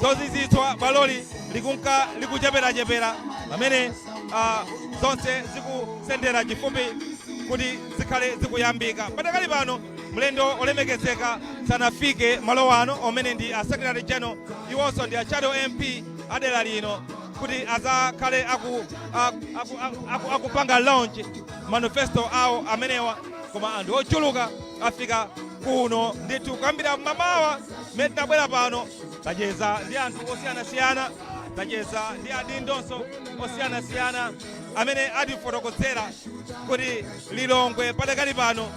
zozizitswa bwaloli likunka licheperachepera pamene ah, zonse zikusendera chifupi kuti zikhale zikuyambika patakali pano mlendo olemekezeka sanafike malo ano omene ndi a secretary general iwonso ndi a shadow mp adera lino kuti azakhale aku, aku, aku, aku, akupanga launch manifesto awo amenewa koma anthu ochuluka afika kuno ndithu kuyambira mamawa mmene tinabwera pano tacheza ndi anthu osiyanasiyana tacheza ndi adindonso osiyanasiyana amene atifotokozera kuti lilongwe padakali pano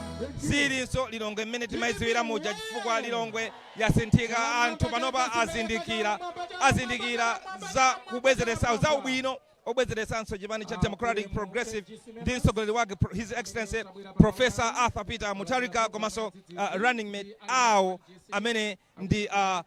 silinso lilongwe mmene timayidziwira muja chifukwa lilongwe yasinthika, anthu panopa azindikira, azindikira za kubwezeretsa, za ubwino obwezeretsanso chipani cha Democratic Progressive ndi mtsogoleri wake His Excellency Professor Arthur Peter Mutharika komanso uh, running mate awo amene ndi uh,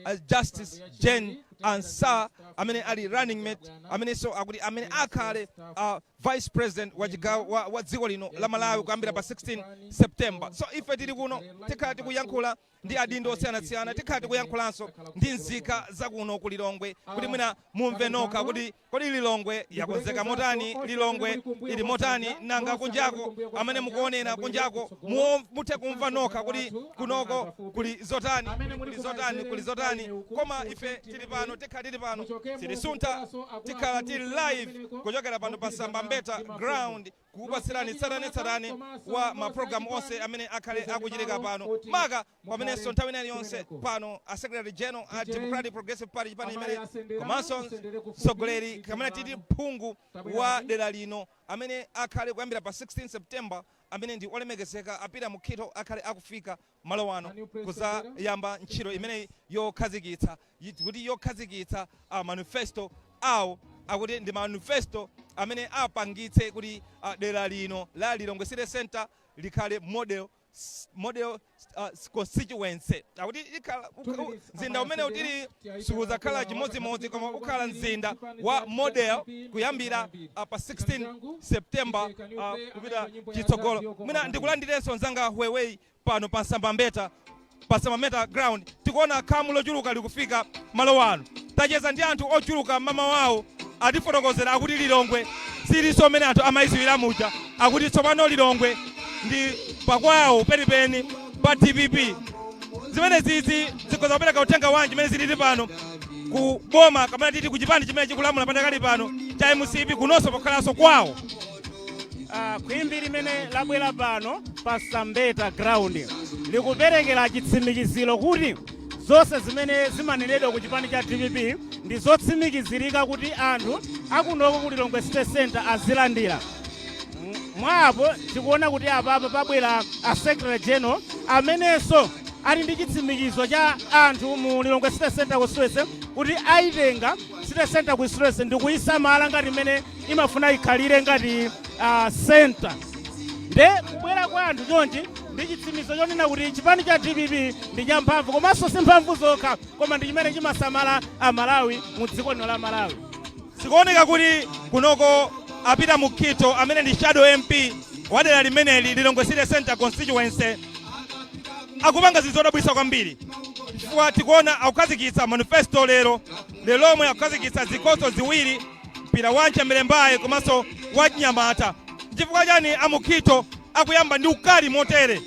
uh, Justice Jane Ansah amene ali running mate amenenso akuti amene akhale uh, vice president wa chigawo wa, wa dziko lino la Malawi kuyambira pa 16 September. So ife tili kuno tikhala tikuyankhula ndi adindo osiyanasiyana tikhala tikuyankhulanso ndi nzika zakuno ku lilongwe kuti mwina mumve nokha kuti kodi lilongwe yakonzeka motani lilongwe ili motani nanga kunjako amene mukuonera kunjako muo- muthe kumva nokha kuti kunoko kuli zotani kuli- kuli zotani kuli zotani koma ife tili pano tikhala tili pano sitisunta tikhala tili live kuchokera pano pa sambambeta ground kukupatsirani tsatanetsatane wa mapulogalamu onse amene akhale akuchitika pano maka pamenenso nthawi ina iliyonse pano a secretary general a democratic progressive party chipani chimene komanso mtsogoleri kamene titi phungu wa dera lino amene akhale kuyambira pa 16 september amene ndi olemekezeka a Peter Mukhito akhale akufika malo ano, kudzayamba ntchito imeneyi yokhazikitsa, kuti yokhazikitsa a manifesto awo, akuti ndi manifesto amene apangitse kuti dera lino la Lilongwe City Centre likhale model, model constituency. Akuti ikhala, mzinda umenewu tili sukudzakhala chimodzimodzi koma ukhala mzinda wa model kuyambira pa 16 September kupita chitsogolo. Mwina ndikulandirenso mzanga Huewei. Pano pa Sambambeta pa Sambambeta ground tikuona khamu lochuluka likufika malo ano. Tacheza ndi anthu ochuluka mmamawawu atifotokozera akuti Lilongwe siilinso mmene anthu amaiziwira muja. Akuti tsopano Lilongwe ndi pakwawo penipeni pa dpp. Zimenezizi zikhoza kupereka uthenga wanji mmene zilili pano ku boma kapena titi ku chipani chimene chikulamula padakali pano cha mcp kunonso pokhalanso kwawo? Ah, khwimbi limene labwera pano pa sambeta ground likuperekera chitsimikiziro kuti zonse zimene zimanenedwa ku chipani cha dpp ndi zotsimikizirika kuti anthu akunoko ku lilongwe city center azilandira M- mwapo tikuona kuti apapa pabwera a secretary general amenenso ali ndi chitsimikizo cha anthu mu lilongwe city center constituency kuti ayitenga city center constituency ndi kuyisamala ngati mmene imafuna ikhalire ngati uh, center nde kubwera kwa anthu chonchi ndi chitsimikizo chonena kuti chipani cha dpp ndi champhamvu komanso si mphamvu zokha koma ndi chimene chimasamala amalawi mu dziko lino la malawi zikuoneka kuti kunoko a Peter Mukhitho amene ndi shadow mp wa dera limeneli lilongwe city center constituency akupanga zinthu zodabwitsa kwambiri chifukwa tikuona akukhazikitsa manifesto lero lomwe akukhazikitsa zikho ziwiri Mpira wachimlembayi komanso wachinyamata. Nchifukwa chani a Mukhitho akuyamba ndi ukali motere?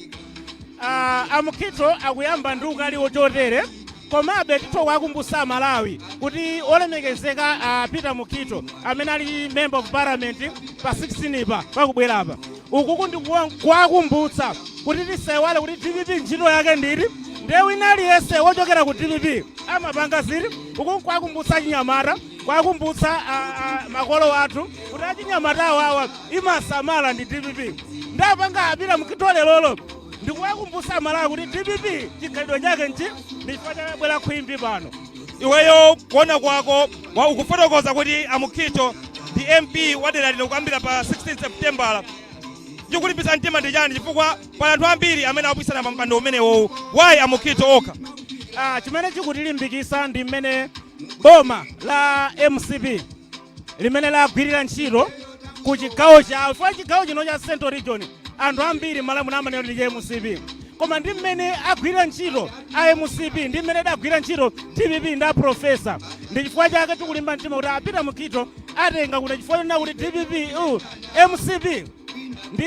Ah, a Mukhitho akuyamba ndi ukali wochotere komabe titha kuwakumbutsa Amalawi kuti olemekezeka a Peter Mukhitho amene ali member of parliament pa 16 pa pakubwera apa ukuku ndi kuwa- kuwakumbutsa kuti tisaiwale kuti dpp ntchito yake ndiri ndiye wina aliyense wochokera ku dpp amapanga ziri ukuku kuwakumbutsa achinyamata kwakumbutsa a- a- makolo athu kuti achinyamata awawa imasamala ndi dpp nde apanga a Peter Mukhitho lerolo ndikuwakumbutsa amalawi kuti dpp chikhalidwe chake nchi ndichifukwa chabwera khwimbi pano iweyo kuona kwako wa ukufotokoza kuti amukhito ndi mp wadera lino kuyambira pa 16 septembala chikukulimbitsa mtima ndi chani chifukwa pali anthu ambiri amene akupikisana pa mpando umenewowu wayi amukhito okha Ah, chimene chikutilimbikisa ndi mmene Boma la mcp mmene lagwirira ntchito ku chigawo chifukwa chigawo chino cha central region anthu ambiri mmalawi muno amanena kuti ndi cha mcp koma ndi mmene agwirira ntchito a mcp ndi mmene adagwirira ntchito dpp ndi a profesa ndi chifukwa chake tikulimba mtima kuti a Peter Mukhitho atenga kuno chifukwa chonena kuti dpp uh, mcp ndi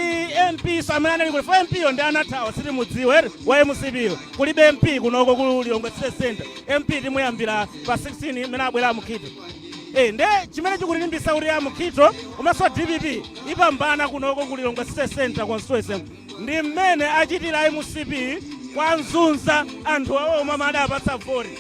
mp nso amene analiko tilibe mp yo ndi anathawa sitimudziwa wa mcp yo kulibe mp kunoko ku lilongwe city center mp timuyambira pa 16 mmene abwera amukhito Eh, nde chimene chikutilimbisa kuti amukhito komanso dpp ipambana kunoko ku lilongwe city center constituency ndi mmene achitira mcp kuwazunza anthu awo omwe amene adawapatsa voti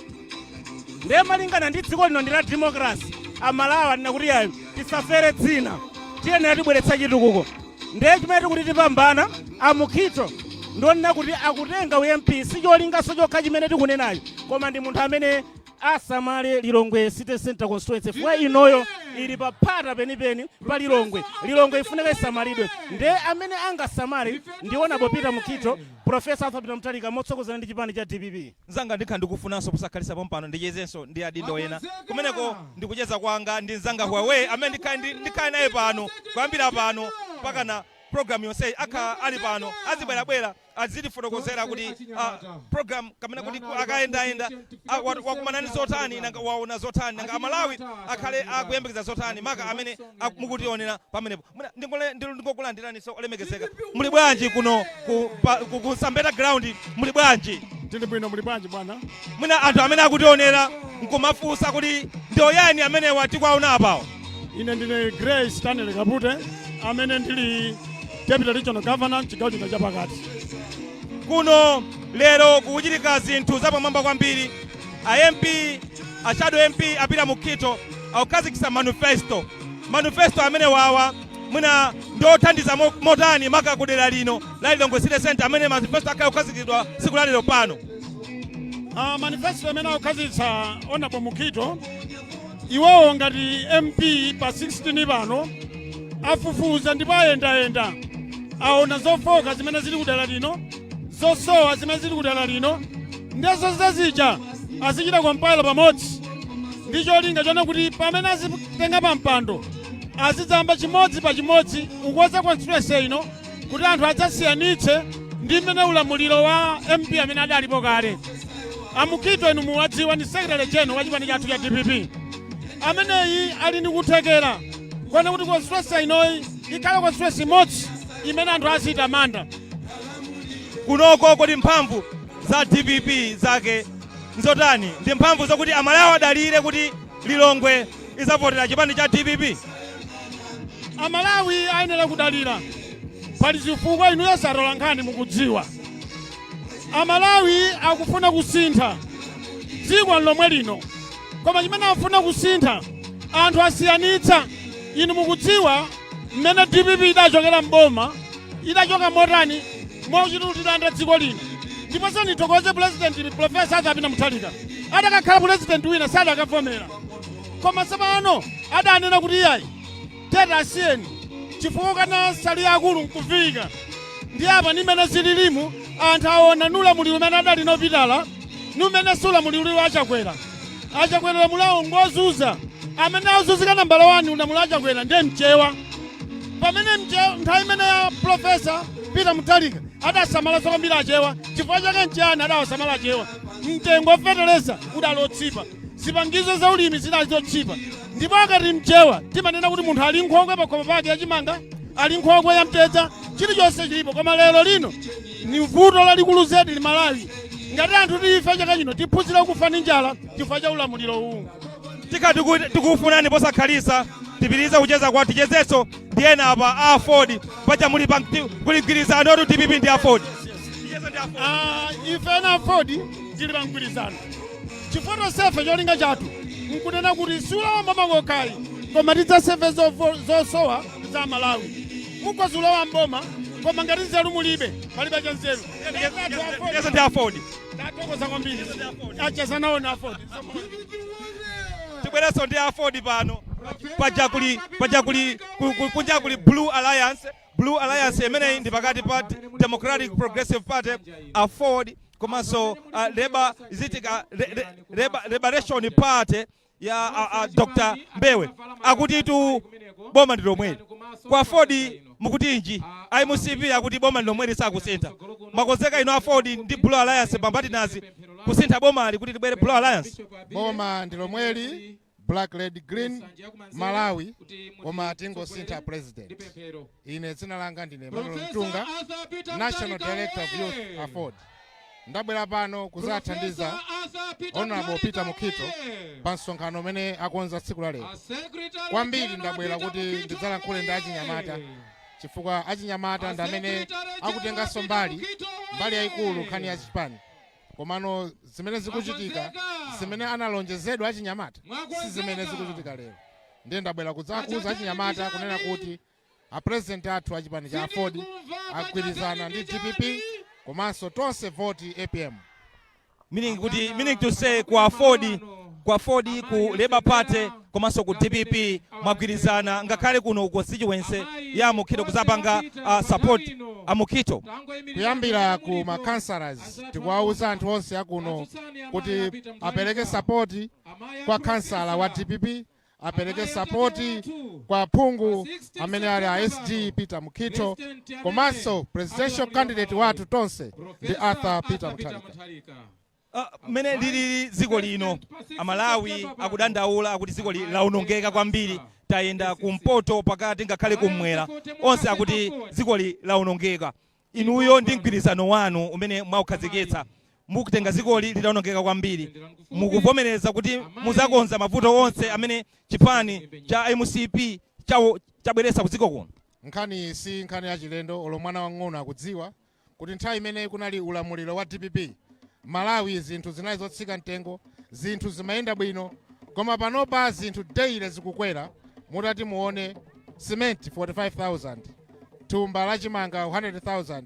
ndiye malingana ndi dziko lino ndi la democracy amalawi anena kuti yayi tisafere dzina tiyenera tibweretsa chitukuko ndiye chimene tikuti tipambana amukhito ndionena kuti akutenga ump sicholingaso chokha chimene tikunenacho koma ndi munthu amene asamale lilongwe city center constituency fwa inoyo ili paphata penipeni pa lilongwe lilongwe ifunika isamalidwe nde amene angasamale ndi honorable peter mukhito profesa arthur peter mutharika motsogozana ndi chipani cha dpp Mzanga, ndikhala ndikufunanso posakhalitsa pompano ndichezenso ndi adindo ena kumeneko ndi kucheza kwanga ndi mzanga Huawei amene ndikhale ndi ndikhale naye pano kuyambira pano mpakana program yonseyi akhala ali pano azibwerabwera azitifotokozera kuti ah, program kapena kuti ku- akayendayenda ah, wa- wakumana ndi zotani nanga waona zotani nanga amalawi akhale akuyembekeza zotani maka amene ak- mukutionera pamenepo Mwina ndingole- ndi- ndingokulandiraniso olemekezeka muli bwanji kuno ku, pa, ku, ku sambeta ground muli bwanji tili bwino muli bwanji bwana mwina anthu amene akutionera nkumafunsa kuti ndi oyani amenewa tikuwaona apawo ine ndine grace stanley kapute amene ndili deputy regional governor mchigawo chino chapakati kuno lero kukuchitika zinthu zapamwamba kwambiri A MP, a shadow MP a Peter Mukhito akukhazikitsa manifesto. Manifesto amenewawa mwina ndi othandiza mo- motani maka ku dera lino la Lilongwe City Centre amene manifesto akhala akukhazikitsidwa tsiku la lero pano. Uh, manifesto amene akukhazikitsa honorable mukhito iwowo ngati mp pa 16 pano afufuza ndipo ayendayenda aona zofooka zimene zili kudera lino zosowa zimene zili kudera lino nde zosowa zija azichita compile pamodzi ndi cholinga chonena kuti pamene azitenga pa mpando azidzayamba chimodzi pa chimodzi kukoza constituency ino kuti anthu adzasiyanitse ndi mmene ulamuliro wa mp amene adalipo kale amukhito inu muwadziwa ndi secretary general wa chipani chathu cha dpp ameneyi ali ndi kuthekera konena kuti constituency inoyi ikhale constituency imodzi imene anthu aziyitamanda Kunoko kodi mphamvu za dpp zake nzotani? Ndi mphamvu zokuti amalawi adalire kuti Lilongwe izavotera chipani cha dpp? Amalawi ayenera kudalira. Pali chifukwa inuyonso atolankhani mukudziwa. Amalawi akufuna kusintha. Dziko nlomwe lino. Koma chimene akufuna kusintha anthu asiyanitsa. Inu mukudziwa mmene dpp idachokera mboma idachoka motani mochita kutilanda dziko lino ndiposo ndithokoze pulezidenti profesa arthur peter mutharika adakakhala pulezidenti wina sadakavomera koma tsopano adanena kuti iyayi tete asiyeni chifukwa kukana nsalu ya akulu nkuviika ndi apa ndi mmene zililimu anthu aona ulamuliro umene adali nawo pitala mmenemu muli ulamuliro wa a Chakwera a Chakwera ulamuliro wawo ngozunza amene azuzika nambala 1 ulamuliro wa a Chakwera ndiye mchewa pamene mchewa nthawi imene ya pulofesa peter Mutharika adasamala kwambiri achewa chifukwa chake mchewayo adawasamala achewa mtengo wa fetereza udali otchipa zipangizo za ulimi zidali zotchipa ndipo akati mchewa timanena kuti munthu ali nkhokwe pakhomo pake yachimanga ali nkhokwe ya mtedza chilichonse chilipo koma lero lino ni vuto lalikulu zedi m'Malawi ngati anthu tifa chaka chino tiphunzire kufa ndi njala chifukwa cha ulamuliro uwu tika tiku- tikufunani posakhalitsa tipitiriza kucheza kwa tichezenso ndi ena apa a aford paja muli kuli mgwirizano woti dpp ndi aford Ah, ife a aford tili pamgwirizano chifukwa tonsefe cholinga chathu nkunena kuti sikulowa mboma kokha ayi koma tidzaseve zosowa za amalawi mukhoza kulowa mboma koma ngati nzeru mulibe palibe cha nzeru Yes, ndi afodi. tatokoza kwambiri acheza nawo na afodi Tibwerenso ndi afodi pano. Paja kunja kuli Blue Alliance. Blue Alliance imeneyi ndi pakati pa Democratic Progressive Party afodi komanso uh, Labour is it uh, Re- Re- Labour- Liberation Party ya a, a, Dr. Mbewe akutitu boma ndi lomweli kwa Aford mukutinji a MCP akuti boma ndi lomweli sakusintha mwakonzeka inu a Aford ndi Blue Alliance pambali nazi kusintha bomali kuti libwere Blue Alliance boma ndi lomweli black red green malawi koma tingosintha president ine dzina langa ndine Emmanuel mtunga national director of youth aford ndabwera pano kuzathandiza honorable peter mukhito pa msonkhano umene akonza tsiku la lero kwambiri ndabwera kuti ndidzalankhule ndi achinyamata chifukwa achinyamata ndi amene akutenganso mbali mbali yayikulu nkhani ya chipani komano zimene zikuchitika zimene analonjezedwa achinyamata si zimene zikuchitika lero ndiye ndabwera kudzawauza achinyamata kunena kuti A president athu a chipani cha aford agwirizana ndi dpp komanso tonse voti apm. Meaning to say ku aford ku labour party komanso ku dpp mwagwirizana ngakhale kuno ku constituency ya a Mukhito kuzapanga uh, support amukhito kuyambira ku ma councillors tikuwauza anthu onse akuno kuti apereke support kwa councillor wa dpp apereke sapoti kwa phungu amene ali a SG peter Mukhito komanso presidential candidate wathu tonse ndi arthur peter mutharika Ah, mmene lilili dziko lino amalawi akudandaula akuti dziko ili laonongeka kwambiri tayenda kumpoto pakati ngakhale kummwera onse akuti dziko ili laonongeka Inuyo ndi mgwirizano wanu umene mwaukhazikitsa mukutenga dzikoli litaonongeka kwambiri, mukuvomereza kuti muzakonza mavuto onse amene chipani cha mcp chabweretsa ku dziko kuno? Nkhaniyi si nkhani yachilendo, olo mwana wamng'ono akudziwa kuti nthawi imene kunali ulamuliro wa dpp, Malawi zinthu zinali zotsika mtengo, zinthu zimayenda bwino. Koma panopa zinthu daily zikukwera, mutati muone cement 45,000. thumba la chimanga 100,000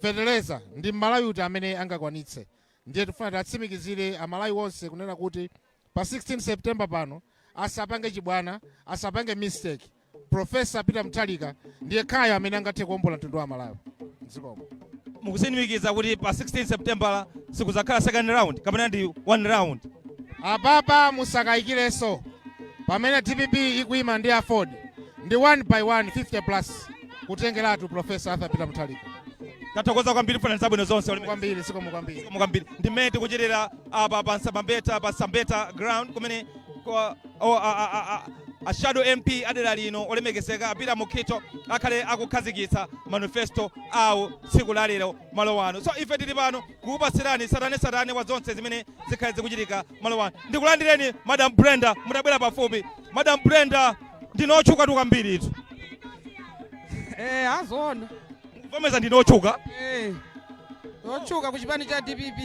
feteleza ndi mmalawi uti amene angakwanitse ndiye tifuna tiwatsimikizire amalawi onse kunena kuti pa 16 september pano asapange chibwana asapange mistake profesa peter muthalika ndi yekhayo amene angathe kuombola mtundu wa amalawi zikomo mukutsimikiza kuti pa 16 seputembala sikudzakhala second round kapena ndi one round apapa musakayikirenso pamene dpp ikuyima ndi aford ndi 1 by 1 50 plus kutengeratu profesa arthur peter muthalika tathokoza kwambiri mafuno abwino zonse Zikomo kwambiri zikomo kwambiri Zikomo kwambiri ndi mmene tikuchitira apa pa nsambambeta pa sambeta ground kumene kwa o- a- a- a- a- a shadow mp adera lino olemekezeka a peter mukhitho akhale akukhazikitsa manifesto awo tsiku la lero malo ano so ife tili pano kukupatsirani tsatanetsatane wa zonse zimene zikhale zikuchitika malo ano ndikulandireni madam brenda mutabwera pafupi madam brenda ndinu otchukatu kwambiri itu Eh, azona. Mvomeza ndine otchuka. Eh, otchuka ku chipani cha dpp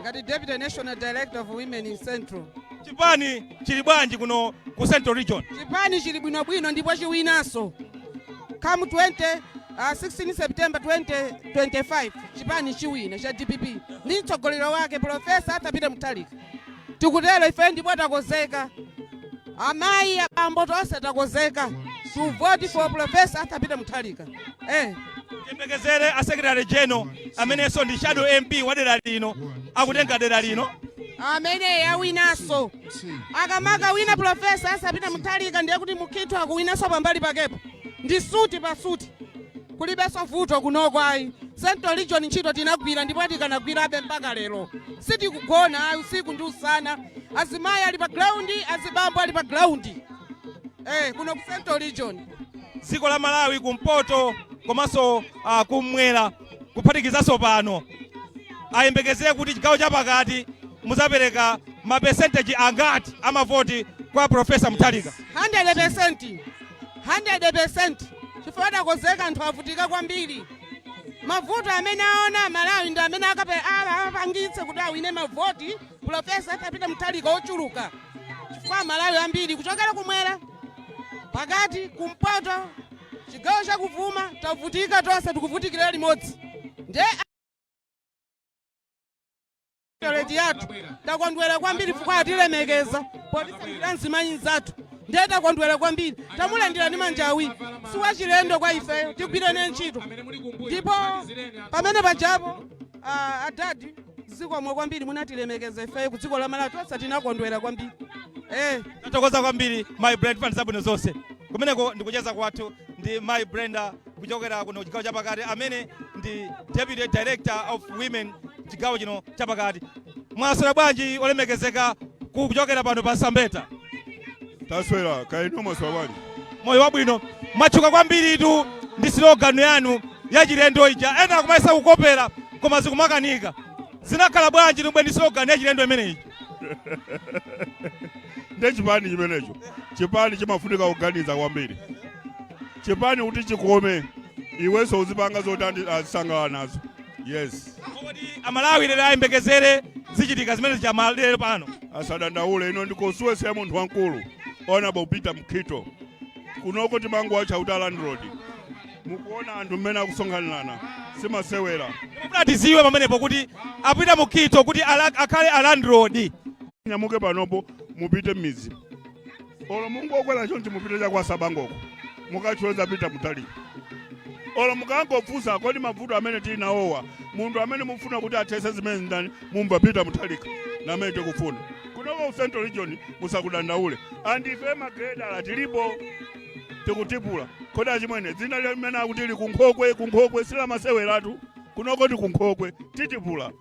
ngati deputy national director of women in central Chipani chili bwanji kuno ku Central Region? chipani chili bwinobwino ndipo chiwinanso come 20 uh, 16 september 2025 chipani chiwina cha dpp ndi mtsogoleri wake profesa arthur peter muthalika tikutero ife ndipo takonzeka amayi abambo tonse takonzeka to vote for professor arthur peter muthalika eh. tiyembekezere a secretary general amenenso ndi shadow mp wa dera lino akutenga dera lino amene awinanso akamakawina profesa arthur peter muthalika ndiye kuti mukhitho akuwinanso pambali pakepo ndi suti pa suti Kulibenso vuto kunoko ayi central region ntchito tinagwira ndipo tikanagwirabe mpaka lero sitikugona ayi usiku ndi usana azimayi ali pa ground azibambo ali pa ground eh kuno ku central region dziko la malawi kumpoto komanso uh, kummwera kuphatikizanso pano ayembekezere kuti chigawo chapakati muzapereka mapesenteji angati amavoti kwa profesa mutharika 100% 100% chifukwa takonzeka anthu avutika kwambiri mavuto amene aona malawi ndi amene akape- a- apangitse kuti awine mavoti pulofesa arthur peter mutharika ochuluka chifukwa malawi ambiri kuchokera kumwera pakati kumpoto chigawo chakuvuma tavutika tonse tikuvutikira limodzi ndiye leti yathu takondwera kwambiri chifukwa atilemekeza potisankhira mzimayi mzathu ndiye takondwera kwambiri tamulandira ndi manja awiri si wachilendo kwa ifeyo tigwirene ntchito ndipo pamene pajapo ah, adadi zikomo kwambiri munatilemekeza ifeyo ku dziko la malawi tonse tinakondwera kwambiri eh. tathokoza kwambiri mayi brenda fan zabwino zonse kumeneko ndi kucheza kwathu ndi mayi brenda kuchokera kuno chigawo chapakati amene ndi deputy director of women chigawo chino chapakati mwaswera bwanji olemekezeka ku- kuchokera pano pa msambeta taswera kaya inu mwaswera bwanji moyo wabwino mwatchuka kwambiritu ndi slogan yanu yachilendo ija ena akumayesa kukopera koma zikumakanika zinakhala bwanji tumwe ndi slogan yachilendo imeneyi nde chipani chimenecho chipani chimafunika kuganiza kwambiri chipani kuti chikome iwenso uzipanga zoti andi- azisangalala nazo yes amalawi lero ayembekezere zichitika zimene zichamalero pano asadandaule ino ndi constituency ya munthu wamkulu honorable peter mukhito kunoko timangowatcha kuti a landlord mukuona anthu mmene akusonkhanirana si masewera mufuna tiziwe pamenepo kuti a peter mukhito kuti ala- akhale a landlord munyamuke panopo mupite m'midzi olo mungokwera chonchi mupite cha kwa tsabangoko mukacheze a peter mutharika olo mukangofunsa kodi mavuto amene tili nawowa munthu amene mufuna kuti athese zimene ndani mumva peter mutharika ndi amene tikufuna kunoko ku central region musakudandaule and ife magredala tilipo tikutipula kodi achimwene dzina limene akuti likunkhokwe kunkhokwe si lamaseweratu kunoko ndi kunkhokwe titipula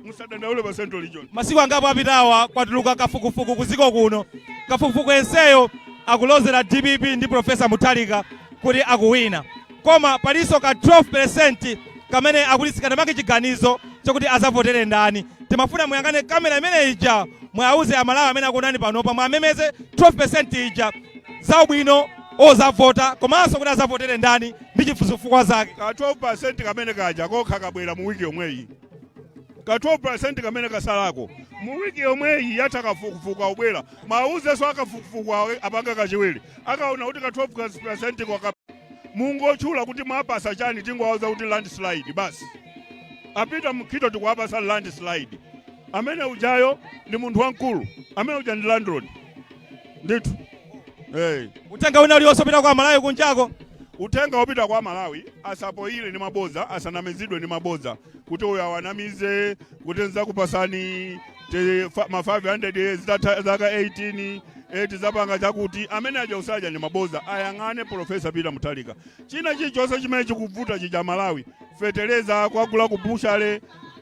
musadandaule pa central region masiku angapo apitawa kwatuluka kafukufuku kuziko kuno kafukufuku yenseyo akulozera dpp ndi profesa mutharika kuti akuwina koma palinso ka 12% kamene akuti sikanamange chiganizo chokuti azavotere ndani timafuna muyang'ane kamera imene ija muwauze amalawi amene akuonani panopa muwamemeze 12% ija zaubwino ozavota komanso kuti azavotere ndani ndi chifu- zifukwa zake. Ka 12% kamene kaja kokha kabwera mu wiki yomweyi. Ka 12% kamene kasalako mu wiki yomweyi yatha kafukufuku akubwera. Muwauzenso a kafukufuku awo apanga kachiwiri. Akaona kuti ka 12% kwa ka mungotchula kuti mwapasa chani tingowauza kuti landslide basi. A Peter Mukhito tikuwapasa landslide. Amene ujayo ndi munthu wamkulu. Amene uja ndi landlord. ndithu hey. uthenga wina ulionse upita kwa malawi kunjako uthenga wopita kwa malawi asapoire ndi mabodza asanamizidwe ndi mabodza kuti uyo awanamize kuti nzakupatsani te- fa- ma 500 zitathera zaka 18 eti zapanga chakuti amene aja usaja ndi mabodza ayang'ane profesa peter muthalika china chilichonse chimene chikuvuta chija Malawi fetereza kokagula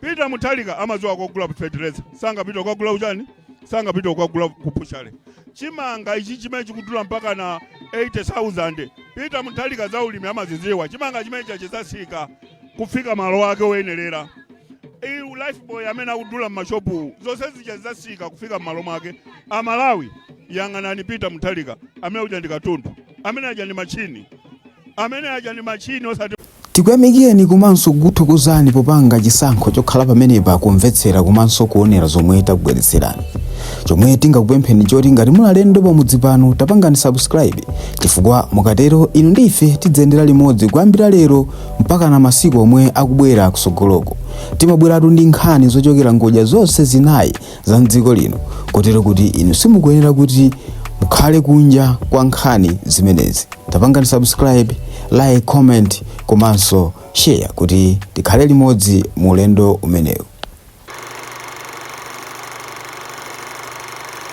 peter muthalika amadziwa kokagula fetereza sangapite kukagula uchani sangapite kukagula kupushale chimanga ichi chimene chikudula mpakana 80000 pita muthalika za ulimi amaziziwa chimanga chimene chija chizasika kufika malo ake oyenerera uyu lifebuoy amene akudula mmashopu zonse zija zizasika kufika mmalo mwake amalawi yang'anani pita muthalika amene uja ndi katundu amene uja ndi machini amene uja ndi machini osati Tikuyamikireni komanso kukuthokozani popanga chisankho chokhala pamenepa kumvetsera komanso kuonera zomwe takubweretserani. Chomwe tingakupempheni nchoti ngati muli alendo pamudzi pano tapangani subscribe chifukwa mukatero inu ndi ife tidziyendera limodzi kuyambira lero mpakana masiku omwe akubwera kutsogoloku. Timabweratu ndi nkhani zochokera ngodya zonse zinayi za m'dziko lino kotero kuti inu simukuyenera kuti mukhale kunja kwa nkhani zimenezi tapangani subscribe like comment komanso share kuti tikhale limodzi mu ulendo umenewu